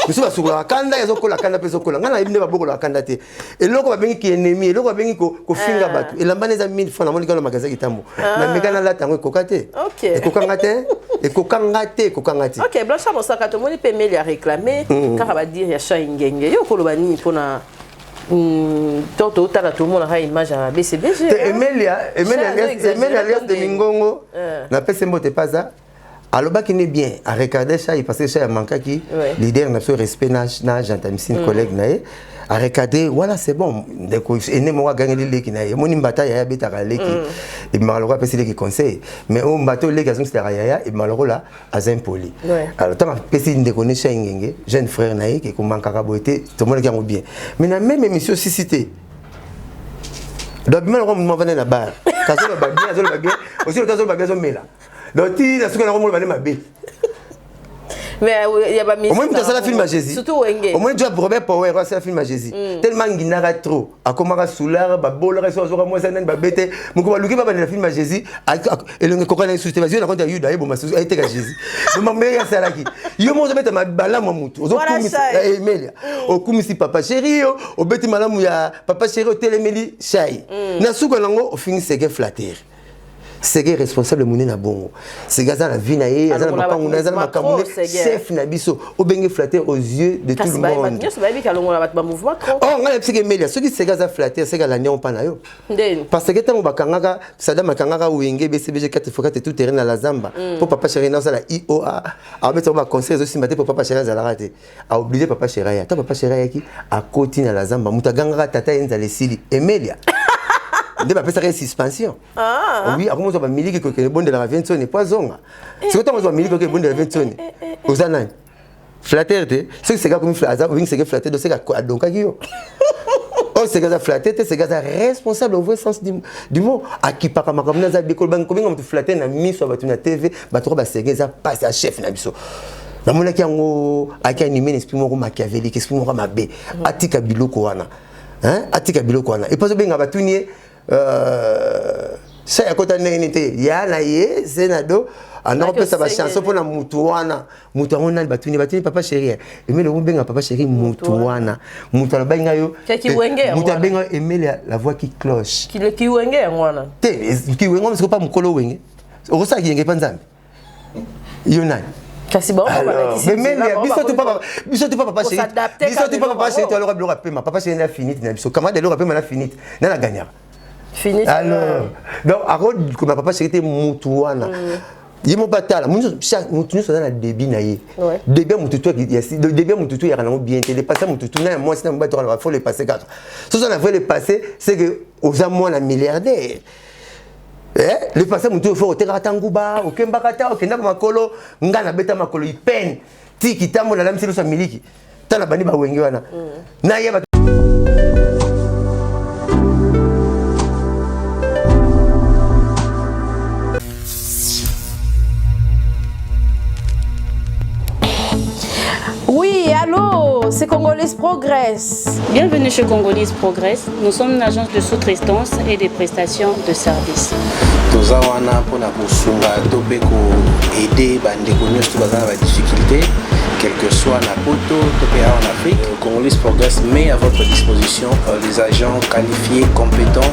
mosusu basukolaka kanda ezokola kanda mpe ezokola ngai nayebi nde babokolaka kanda te eloko babengi ki ennemi eloko babengi kofinga ah. bato elamba na eza 1000 francs namoni kano magasin kitambo ah. na meka nalata yango ekoka te ekokanga te ekokanga te ekokanga te ok blanchard mosaka tomoni mpe meli ya réclame mm. kaka badire ya chai ngenge yo okoloba nini mpona mm, to totala tomonaka image ya bcbg emelia emelia alias de mingongo eh. napesi mbote paza alobaki ne bien a regarder ça parce que ça a manqué qui leader na respect na na gentilesse mm. collègue na ye a regarder voilà c'est bon ndeko ene mo gagner les leki na ye moni mbata ya beta ka leki mm. et maloko pesi leki conseil mais o mbato leki azum sera ya et maloko la azem poli alors tant pesi ndeko ne cha ngenge jeune frère na ye qui ko manka ka boite to mona ki bien mais na même émission sisité donc bima na ko mo vana na bar kazo ba bien azo ba bien aussi otazo ba bien azo mela donc ti na suka na komona bale mabe mais euh, ya ba musique omoni moto asala film ya jésus surtout wenge omoni job robert power asala film ya jésus mm. tellement nginaka trop akomaka soulard babolaka so azoka mwasi nani babete moko baluki babandela film ya jésus elongo ekokana ye susu te bazwi na konte ya yuda ayeboma susu ayeteka jésus makambo ndenge asalaki yo moko ozobeta malamu ya motu ozokumisa eh, emelia mm. okumisi papa sheri yo obeti malamu ya papa sheri otelemeli shai mm. na suka nango ofingi seke flattere sege responsable monene abongo sege aza na vie na ye aza na mapangu na aza na makambo ne chef na biso obenge flatteur aux yeux de tout le monde oh ngai nayebisaki emelia soki sege aza flatteur sege alandi yango mpa na yo parce que ntango bakangaka sadam akangaka wenge bcbg 4 fois 4 tout terrain na la zamba mpo mm. papa chéri na osala ioa abetisa ngo baconseil ezosimba te mpo papa chéri azalaka te a oblige papa sheraya ata papa sheraya ayaki akoti na lazamba moto agangaka tata ye nzala esili emelia nde bapesaka ye suspension ah. oui akoma ozwa bamiliki kokende ebondelaka viensoni po azonga eh, soki ntango ozwa eh, miliki oke eh, ebondela viensoni oza nani flatere te soki seka akomi aza obingi seke flatere do seka adonkaki yo oyo seke aza flatere te seke aza responsable au vrai sens du mot akipaka makambo na aza bikolo bangi kobenga moto flatere na miso ya bato na tv bato ko baseke eza mpasi ya chef na biso namonaki yango ayaki anime na esprit moko machiavelike esprit moko mabe mhm. atika biloko wana atika biloko wana epo azobenga batuni ye euh, sa ya kota ndenge nini te ya na ye ze na do anda kopesa bachanson mpo na motu wana motu yango nani batuni batuni papa sheri eh. emele okobenga papa sheri motu wana motu alobaki ngai yo motu abenga yo emele la voix qui cloche kiwenge yango wana te kiwenge wana sikopa mokolo wenge okosala kiyenge mpa nzambe yo nani kasi biso tu papa biso tu papa chéri biso tu papa chéri toloka biloko ya pema papa chéri na finite na biso kamata eloko ya pema na finite na na gagnaka finite alors donc akokoma papa chéri te mutu wana ye moko atala moto nyonso aza na debi na ye debi ya motutu debi ya motutu eyaka nango bien te lepasse ya motutu na ya mwasi na mobali tokalaka fo lepasse kaka soki oza na vrai lepasse c'est que oza mwana milliardaire eh le passé mutu oyo fo otekaka ta nguba okembaka ta okendaka makolo ngai nabeta makolo ipene ti kitambo nalamisi loso ya miliki ta na bandi bawenge wana mm. nayeba Oui, allô, c'est Congolese Progress. Bienvenue chez Congolese Progress. Nous sommes une agence de sous-traitance et des prestations de services. toza wana mpona kosunga to mpe koaide bandeko nyonso baza na badifficulté quel que soit na poto to mpe awa en afrique congolais progress met à votre disposition euh, les agents qualifiés compétents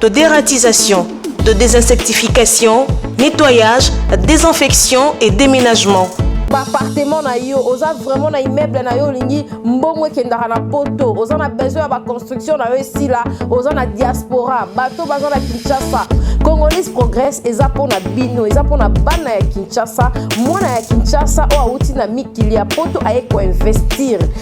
de dératisation, de désinsectification, nettoyage, désinfection et déménagement. baappartement na yo oza vraiment na immeuble na yo olingi mbongo ekendaka na poto oza na besoin ya baconstruction na yo esila oza na diaspora bato baza na kinshasa congolais progress eza mpo na bino eza mpo na bana ya kinshasa mwana ya kinshasa oyo awuti na mikili ya poto aye koinvestir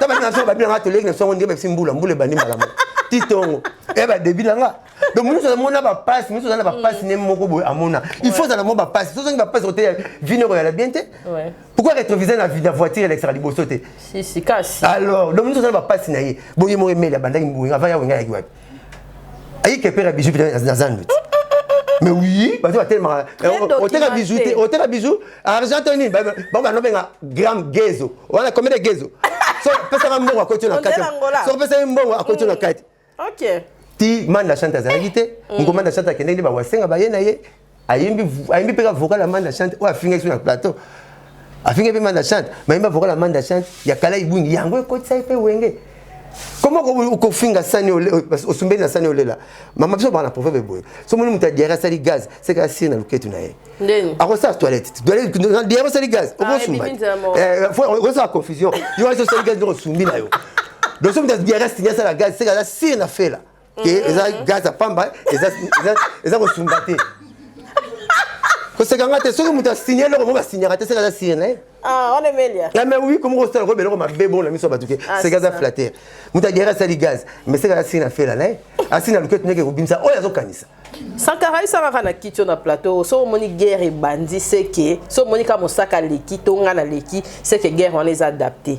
tabandi na songo babi na nga toleki na songo ndenge bapesi mbula mbula ebandi mbala moko ti tongo eya badebi na nga donc mosusu azamona bapasi mosusu aza na bapasi ne moko boye amona il faut ozala mwa bapasi so ozangi bapasi koteya vino ekoyala bien te pourquoi rétrovisé na voiture elekisaka liboso te alors donc mosusu aza na bapasi na ye boye moko emeli abandaki mbuenga avant ya wenga yaki wapi ayike mpe na bizu mpe na zando ti mais oui bato batelemaka oteka bizu te oteka bizu argent to nini bango banobenga gramme gezo wana combien de gezo so pesaka mbongo akoti na kati so pesaki mbongo akoti na kati ti manda chante azalaki te ngomanda chante akendeki bawasenga baye na ye ayembi ayembi mpe ka vocal ya manda chante oyo afingaki so na plateau afingaki mpe manda chante mayembi vocal ya manda chante ya kala ibwingi yango ekotisaki mpe wenge koma okofinga sani osumbeli na sani olela mama biso baka na proverbe boye so moni moto adiare asali gaz seka asiri na loketu na ye akosala toilette diare osali gaz okosala confusion yo wasi osali gaz ndoko osumbi na yo donc so moto adiare asiri asala gaz seka asiri na fela ke mm. eza gaz ya pamba eza kosunga te koseka nga te soki moto asigne eloko moko asignaka te seka aza signe na ye ah, ah, mais oui komo kosala ko beloko mabe bona miso ya bato ke ah, seka aza flatter moto agere asali gaz mais seka aza signe na fela na ye asi na lukete neke kobimisa oyo azokanisa sankara esangaka na kiti na plateau so omoni guerre ebandi seke so omoni ka mosaka aleki to nga naleki seke guerre wana eza adapte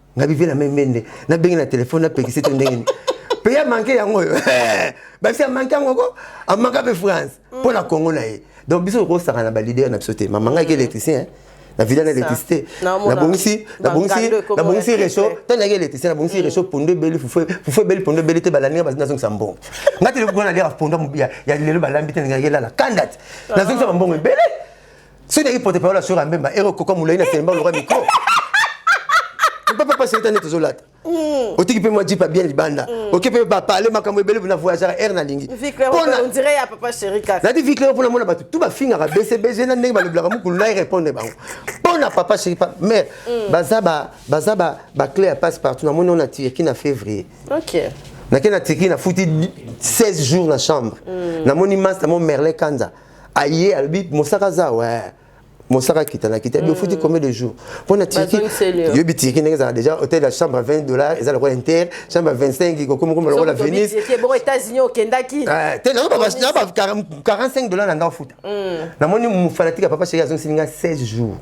nga bivela me mende nabengi na telefone napekisi te ndenge nini mpe ya manke yango oyo basi amanke yango ko amanka mpe france mpo mm. na kongo na ye donc biso okosaka na balider na biso te mama ngai ke électricien na vida na électricité nabongisi nabongisi nabongisi recho ntango nayaki électricien nabongisi mm. recho pondo ebeli fufu ebeli pondo ebeli te balandi nga nazongisa mbongo nga te lekokona naliaka pondo ya lelo balambi te ndenge elala kandati ah. nazongisa bambongo ebele soki nayaki porte parole ya sora mbemba ero koka molai na telemba oloka mikro papa pasi etani tozolata mm. otiki mpe mwa jipa bien libanda mm. oke mpe bapale makambo ebele na voyagaka aire nalingi nati viclero mpo namona bato tu bafingaka bcbg na ndenge balobelaka mokulu na erepondre bango mpo na papa chéri pa mare mm. baza baclé ya passe partout namoni ona tirki na février nake na tirki nafuti 16 jours na chambre namoni masta mo merlin kanza aye alobi mosaka aza we mosaka akita na kita bofuti mm. combien de jours mpo na tirki yobi tirki ndenge ezalaka déjà hôtel ya chambre 20 dollars eza lokola inter chambre 25 kokomokoma lokola venise te nazo 45 dollars na nga ofuta mm. namoni fanatique ya papa sheri azongisili nga 16 jours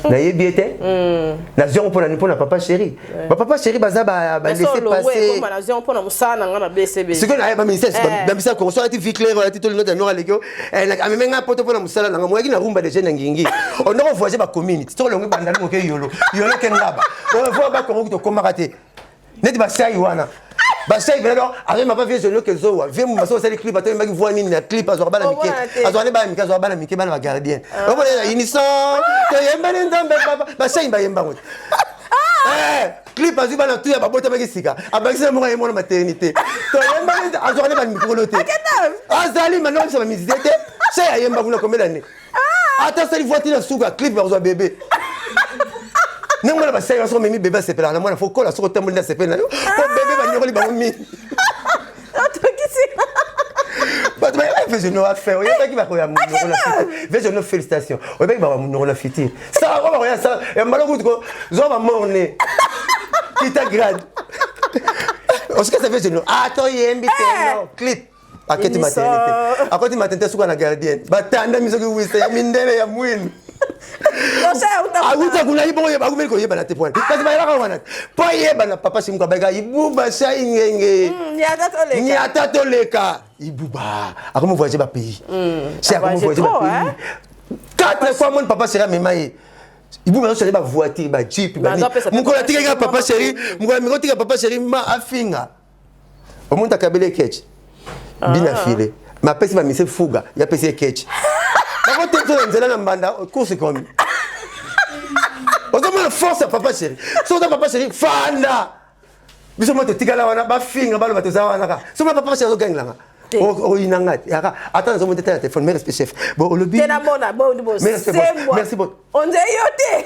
nayebi ye te hmm. nazwi yango mpona mpo na papa chéri bapapa chéri baza balese pasesikoyo naye baministère bamisala koko soki alati vie claire alati to linota yango aleki ameme ngai poto mpo na mosala nanga moyaki na rumba deja na ngingi ondoko voyage bacommune soki olongi bandali moke yolo yolo ke ngaba oyo voa bakongo kutokomaka te neti basai wana basai bela donc arema ba vieux zonio kezowa vieux mumasa osali clip ata oyembaki voix nini na clip azwaka bana mike azwaka nde bana mike azwaka bana mike bana bagardien ah. omona na unison toyembani nzambe papa basai bayembango te ah. eh, clip azwi bana tu ya babotamaki sika abakisi na moko ye mwana maternité toyembani azwaka nde bana mikolo te azali manoko bisa bamizisie te sai ayemba kuna komela nde ata asali voiti na suka clip bakozwa bebe ndenge mwana basali baso omemi bebe asepelaka na mwana fo kola soki otamboli na sepeli na yo po bebe banyokoli bango mingi bato bayebaki vejono afin oyebaki bakoya monoko na fiti vejono félicitation oyebaki bakoya monoko na fiti sala ko bakoya sala ya mbala kutu ko zwa bamorne kita grade osikasa vejono atoyembi teno clip aketi maternité akoti maternité suka na gardienne batandami soki wisa ya mindele ya mwindu awuta kuna ibongo yeba akumeli koyebana te pwana kasi bayebaka wana po ayebana papa simuka bayeka ibuba sa ingenge hmm, nyata toleka ibuba akomi voyage ba pays hmm, si akomi voyage ba pays quatre fois moni papa sera mema ye ibuba azosali ba voiture ba jeep mokolo atikaki papa seri mokolo amikotika papa seri ma afinga omonta kabele ketch ah. bina file mapesi bamise fuga yapesi ye ketch bakotetso na nzela na mbanda kursi komi ozomona force ya papa chéri so oza papa chéri fanda biso mwa totikala wana bafinga baloba toza wana ka so mwa papa chéri azogangelanga oyina nga te yaka ata nazomona teta na telefone merci chef bo olobi merci bon onzei yo te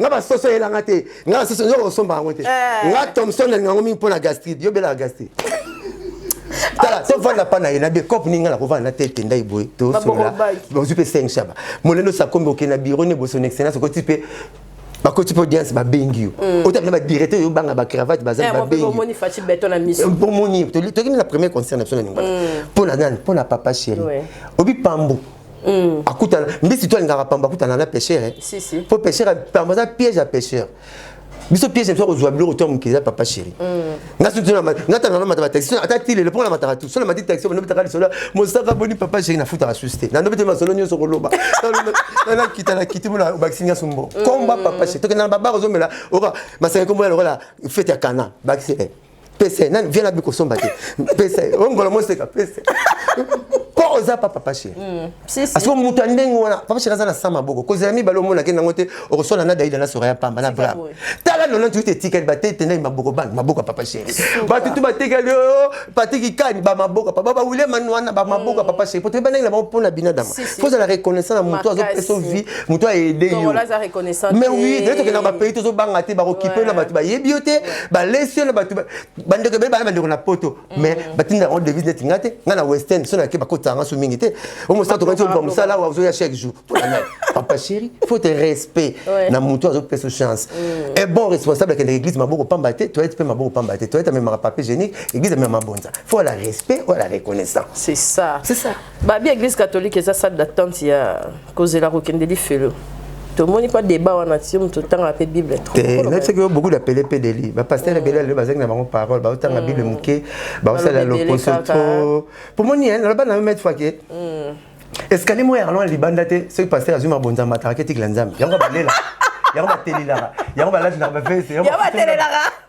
nga basoso eyela nga te nga basoso yo kosomba yango te eh. nga thomson nalinga yango mingi mpo na gastride yo belaka gastride tala tovanda mpa na ye na becope ningi nga nakovanda na tete ndai boye tosolola ozwi mpe seng shaba molendo sakombi okende na biro ne boso na excellence okoti mpe bakoti mpe audience babengi yo mm. otabi na badirecte oyo obanga bacravate bazali eh, babengiomoni eh, tokimi na premier concert na biso na ningwana mpo mm. na nani mpo na papa chéri obi pambu Mm. akutana mbisi to alingaka pamba akutana na pêcheur eh? si, si. po pêcheur pamba aza piège ya pêcheur biso piège biso kozwa biloko to mokili ya papa chéri mm. nga soki natana na mataba taxi ata ti lelo mpo na mataka tu soki na mati taxi bano betaka lisolo mosaka boni papa chéri nafutaka susi te nando bete masolo nyonso koloba nakita na kiti mpona obakisi nga sombo komba mm. papa chéri tokenda na babare ozomela oka masaka komboya lokola fete ya kana bakisi eh. pese nani viens abi kosomba te pese ongola moseka pese po oza pa papa chéri mm, asiko moto ya ndenge wana papa chéri aza na sa maboko kozela mibale omonaki nango te okoswana na daida na soraya pamba na bra tala nona tuite etikali batetendaki maboko bana maboko ya papa chéri bato tu batekali oyo patiki kani bamaboko papa bawile manuana bamaboko ya mm. papa chéri po toyebanaki na bango mpo na binadama mpo ozala reconnaissant na moto azopesa vie moto aede yo mais oui naye tokenda bapays tozobanga te bakokipe yo na bato bayebi yo te balesi yo na bato bandeko ebele bana bandeko na poto mm. mais batinda yango devise neti nga te nga na western so nake bakotisa nga so mingi te o mosala tokati oluka mosala awa ozoya chaque jour papa chéri faut te respect na moto azopesa chance mm. e bon responsable akendaka église maboko pamba te toyete mpe maboko pamba te toyete amemaka papier génique église amema mabonza faut la respect oya la reconnaissance c'est ça c'est ça Babi eglise catholique eza salle d'attente ya kozela kokende lifelo. tomoni mpa débat wana ti moto otangaka mpe bible nayebisaki yo beaucoup d'appele mpe deli bapaster ebele lelo bazalaki na bango parole baotanga mm. bible moke baosalela loposo to pomoni naloba na yo maître fake escalier moko ya kalona libanda te soki paster azwi mabonza mataka ke tikila nzambe yango balela yango batelelaka yango balatinaka bavese yango batelelaka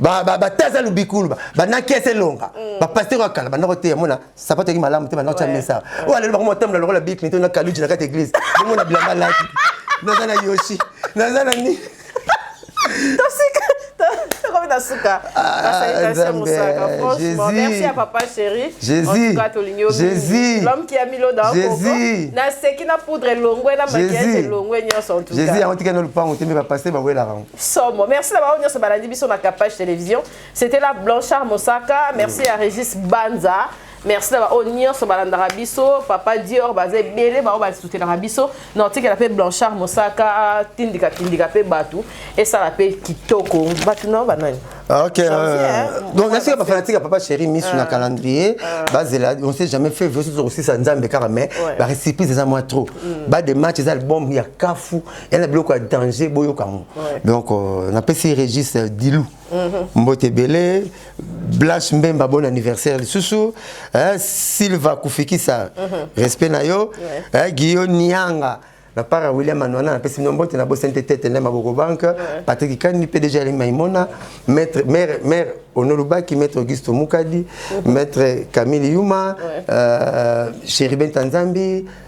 bataza lobikulu banaki ese elonga bapasteur ya kala bandako te yamona sapato yaki malamu te bandako tya mesa oyo alelo bango matambola lokola bill clinton na kaluji na kati eglise bomona bilamba laki naza na yoshi naza na nini tosika tokomi na suka basalikasio mosaka franchement merci ya papa chéri entuka tolingi omingi l'homme qui a mis l'eau dans coco naseki na poudre elongwe na maquillage elongwe nyonso entuka jésus yango tikani lopango te mpe bapaste bawelaka yango Somo. Merci d'avoir venu sur Baladi Biso na Capage Télévision. C'était la Blanchard Mosaka. Merci à Régis Banza. merci na baoyo nyonso balandaka biso papa dior baza ebele baoyo basutenaka biso na otikela mpe blanchard mosaka tindika tindika mpe bato esala mpe kitoko bato nao banani ah, Ok. Euh, donc, est-ce que ma fanatique à papa chéri mis sur un ah. calendrier ah. Bah, là, on sait jamais fait, je suis aussi ça, Nzambe, car mais, bah, récipient, c'est ça, moi, trop. Mm. Bah, des matchs, c'est ça, le bombe, il y a Kafou, ya na biloko ya danger boyoka yango donc euh, napesi régis euh, dilou mhm. mbote ebele blanche mbemba bon anniversaire lisusu eh, silva kufikisa mhm. respect na yo eh, guillot nianga na part ya william anwana napesi bino mbote nabosani te tete nde maboko banke patrik kani mpe deja elemi maimona maître maire maire onolobaki maître augusto mukadi mhm. maître camille yuma euh, chéribin tanzambi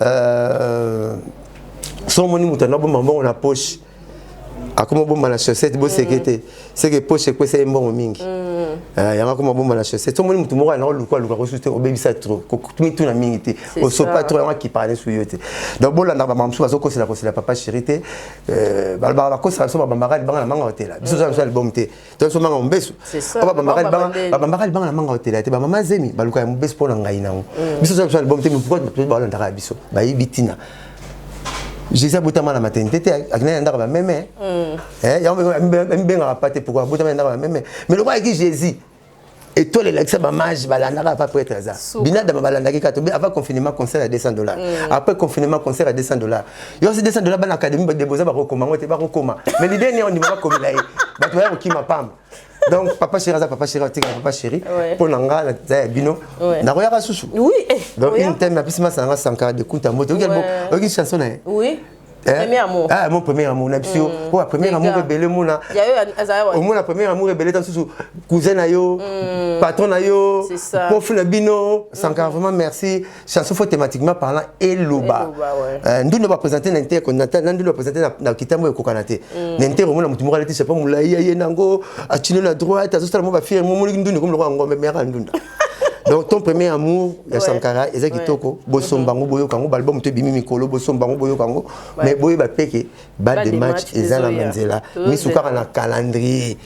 Euh, so omoni moto anda bomba mbongo na poche akoma bomba na chaussette boseke mm. te seke poche ekwesa ye mbongo mingi mm. eh, yango akoma bomba na chaussette so omoni moto moko anda koluka luka kosusu te obebisa trop mituna mingi te osopa trop yango akipaka nesu yo te donc bolandaka bamama mosusu bazokosela kosela papa chéri te euh, balobaka bakosaka biso babambaka libanga na manga otela biso oza biso na libomu te mm. toso manga mobesu babambaka libanga na manga otela te bamama zemi baluka ya mobesu mpo na ngai nango mm. biso toza album te mpokoa balandaka ya biso bayebi ntina jésus abotama na maternité te akendaki na ndako ya bameme mm. eh, yango amibengaka pa te pourkoi abotama na ndako ya bameme mais lokola ayeki jésus etoile elakisa bamage balandaka apa pretre aza binadama balandaki kaka tobe avant confinement concert ya 200 dollars mm. après confinement concert ya 200 dollars yo osi 200 dollars bana académie badeboza bakokoma yango te bakokoma mais lide nini ondima bakomela ye bato baya kokima pamba donc papa chéri aza papa chéri atika papa chéri mpo na nga naza ya bino nakoyaka susu eh, donc une teme apesi masanga sankara de kunta mbote oyoki chanson na ye Eh? Premier amour. Ah, mon premier amour na biso. Ko mm. premier amour ebele mona. Ya yo azaya wa. Omona premier amour ebele tan susu cousin na yo, mm. patron na yo, prof na bino, mm. Sankara vraiment merci. Chanson faut thématiquement parlant eloba. Euh, ndundo ba présenter na inter qu'on attend, ndundo ba présenter na kitambo e kokana te. Na inter omona mutu moko alati chapeau mulayi ye nango, achino na droite, azosala mo ba fier mo moli ndundo comme le roi ngombe mère ndunda. donc ton premier amour ya ouais. sankara eza ouais. kitoko bosomba yango boyoka yango baalbum to ebimi mikolo bosomba yango boyoka yango ouais. mais boyeba mpe ke bal de match eza na manzela misu kaka na calendrier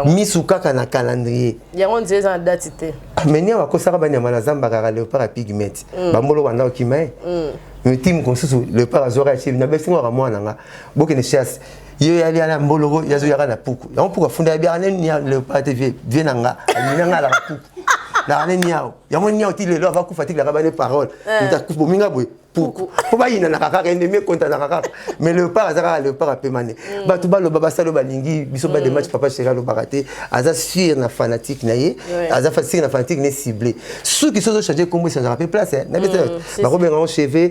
misu kaka na calendrier yango nzela eza na dati te amenia bakosaka banyama na zamba kaka leopard ya pigmete mm. bambolo banda okima ye eh? mm. mitime mosusu leopard azwaka ya chebi na besingo kaka mwana nga bokende chasse yo ya lia na mboloko ya zo yaka na puku yango puku afunda ya biaka ne nia le pate vie vie na nga nia nga la puku na ne niao yango niao ti lelo ava kufa ti la ba ne parole eh. uta kufa minga boy puku po ba yina na kaka ende me konta na kaka mais le père azaka le père apemane mm. ba tu ba lo baba salo ba lingi biso ba de mm. match papa chega lo baraté aza sur na fanatique na ye aza fanatique na fanatique ne ciblé ceux qui sont changé comme ça na pe place eh, na beta mm, ba ko benga cheveux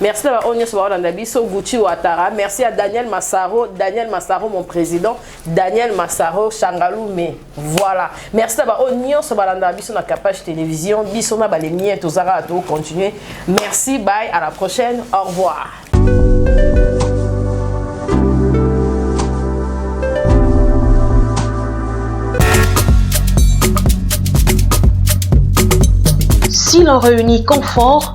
Merci na baoyo nyonso baolanda biso Gucci Ouattara merci à Daniel Massaro Daniel Massaro mon président Daniel Massaro Changalume voilà merci na baoyo nyonso balanda biso na Kapash Télévision biso na balemien tozaka to continuer merci bye à la prochaine au revoir Si l'on réunit confort,